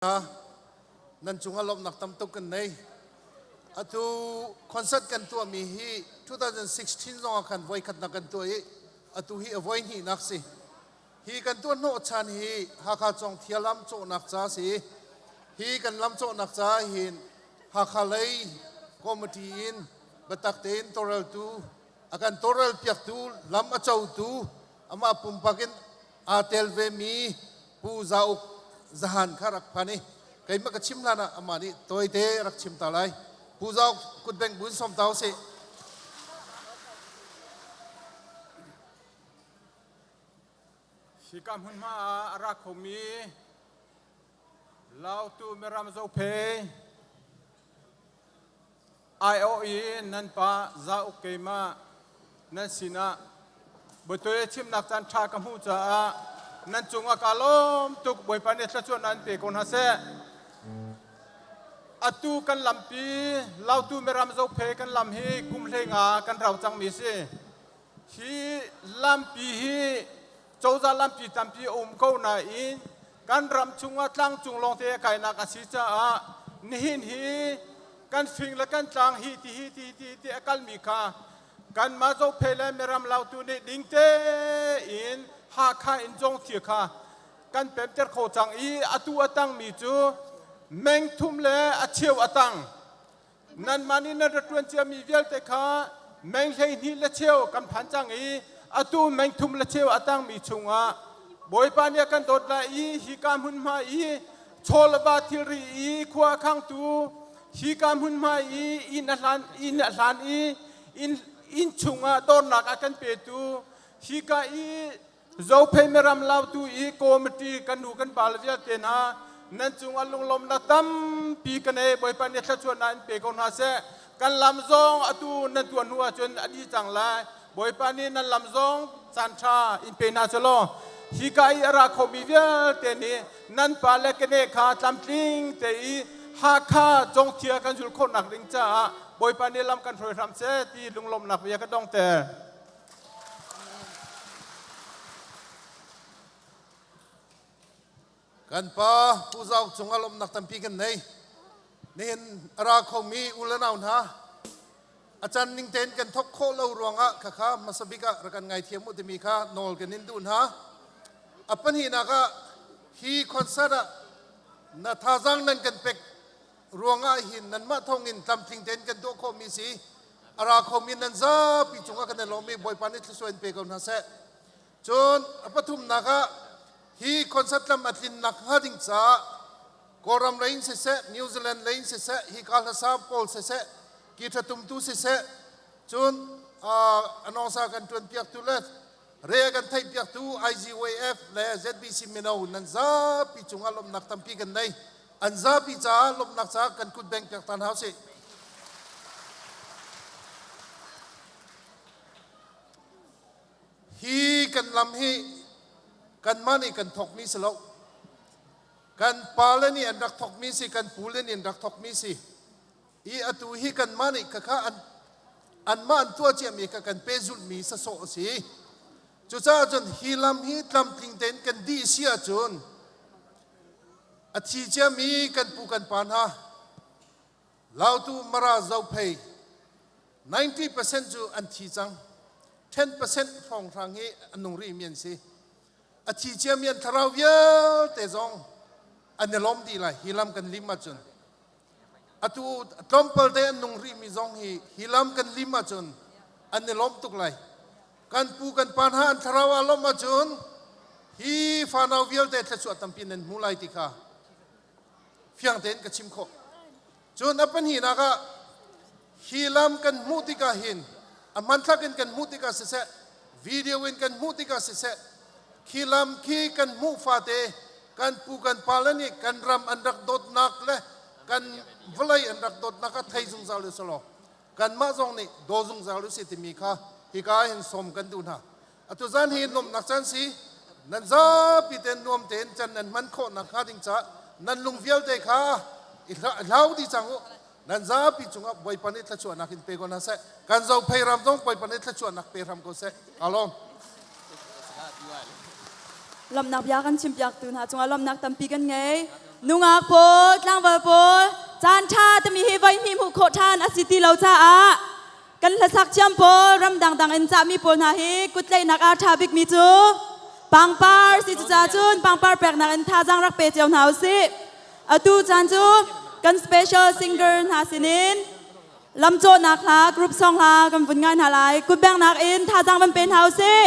nan cungah lawmhnak tam tuk kan nei atu concert kan tuahmi hi 2016 zongah khan voikhatnak kan tuah i atu hi a voi hnihnak si hi kan tuah hnawh chan hi Hakha Cawng Thia lam cawhnak ca si hi kan lam cawhnak ca hin Hakha lei committee in batak tein toreltu akan torel piaktu lam a cotu amah pumpak in aa tel vemi Pu Zauk Zahan kha rak phan i keimah ka chim hlan ah amah nih tawite rak chim ta lai Pu Zauk kutbeng buin sawm ta usih Hika hmunhma ah a ra khomi Lautu miram zophei aiawh i nan pa zauk keimah nan sinah butul chimnak caan ṭha ka hmuh caah nan cungah kaa lawm tuk Bawipa nih thlachuah nan pe ko hna seh. Atu kan lampi Lautu miram zophei kan lam hi kum hleinga kan rau cangmi a si. Hi lampi hi cozah lampi tampi a um ko nain kan ram chungah tlangcung lawngte a kainak a si caah nihin hi kan fing le kan tlang hi ti hi ti ti ti a kalmi kha kanmah zophei le miram lautu nih ding tein Hakha in Jongthia kha kan pemter kho cang i atu a tangmi cu mengthum le a cheu a tang. Nanmah nih nan rak ṭuan ciami vialte kha meng hleihnih le cheu kan phan cang i atu meng thum le cheu a tangmi chungah Bawipa nih a kan dawt lai i hika hmunhma i chawl a ba thilri i khua a khangtu hika hmunhma i inn a hlan inn a hlan i inn inn chungah dornak a kan petu hika i Zophei ram lautu i committee kan nu kan pale vialte hna nan cungah lunglawmnak tampi kan ei Bawipa nih thluachuahnak in pe ko hna seh kan lam zong atu nan tuan hnu ahcun a dih cang lai Bawipa nih nan lam zong caan ṭha in pe hna selaw hi ka i a ra khomi vialte nih nan pa le kene kha tlamtling te i Hakha congthia kan zul khawhnak ding caah Bawipa nih lam kan hruai hram seh ti lunglawmnak bia ka dong ter. Kan pa Pu Zau cung ah lawmhnak tampi kan nei. Nihin a ra khomi u le nau hna, a can ning tein kan thok khawh lo ruangah khakha masabik ah rak kan ngaithiam u timi kha nawl kan in duh hna. A pahnihnak ah hi concert ah na thazang nan kan pek ruangah hin nanmah thawngin tlamtling tein kan tuah khawhmi si a ra khomi nan zapi cungah kan i lawmmi Bawipa nih thlusuai in pe ko hna seh. Cun a pathumnak ah hi concert lam a tlin nak hnga ding caah Kawlram lei in siseh, New Zealand lei in siseh, hi ka hlasa pawl siseh, ki thatumtu siseh, cun uh, anongsa kan tuanpiaktu le Re a kan theihpiaktu IGWAF le ZBC mino nan zapi cungah lawmhnak tampi kan nei. An zapi caah lawmhnak caah kan kut beng piak ta hna usih. Hi kan lam hi kanmah nih kan thokmi si lo. Kan pale nih an rak thokmi si, kan pu le nih an rak thokmi si. i atu hi kanmah nih khakha an anmah an tuah ciami kha kan pehzulhmi sasawh a si cucaah cun hi lam hi tlamtling tein kan dih si ahcun a thi ciami kan pu kan pa hna lautu mara zophei 90% cu an thi cang 10% hrawnghrang hi an nung rih mi an si a thi ciami an thlarau vialte zong an i lawm dih lai hi lam kan lim ahcun atu tlawmpal te an nung rihmi zong hi hi lam kan lim ahcun an i lawm tuk lai kan pu kan pa hna an thlarau ah lawmh ahcun hi fanau vialte thluachuah tampi nan hmu lai ti kha fiang tein ka chim khawh cun a pahnih nak ah Hi lam kan hmuh tikah hin a hmanthlak in kan hmuh tikah siseh, video in kan hmuh tikah siseh, khi lam khi kan hmuh fate kan pu kan pale nih kan ram an rak dawtnak le kan vawlei an rak dawtnak kha thei zungzal u sih law kanmah zong nih daw zungzal u sih timi kha hika hin sawm kan duh hna. Atu caan hi nuamhnak caan si. Nan zapi ten nuam tein can nan hman khawh nakhnga ding caah nan lung vialte kha i hlau di cang u. Nan zapi cungah Bawipa nih thluachuahnak in pe ko hna seh. Kan zophei ram zong Bawipa nih thluachuahnak pe hram ko seh. Alawm. Lawmhnak bia kan chimpiaktu hna cungah lawmhnak tampi kan ngei. Nungak pawl, tlangval pawl, caan ṭha timi hi voi hnih hmuh khawh ṭhan a si ti lo caah Kan hlasak thiam pawl ram dangdang in cahmi pawl hna hi kuttlaihnak ah ṭha bikmi cu pangpar si cucaah cun pangpar peknak in thazaang rak pe cio hna u sih. Atu caan cu kan special singer hna sinin lam cawhnak hla group song hla kan vun ngai hna lai. Kutbengnak in thazaang van pe hna u sih.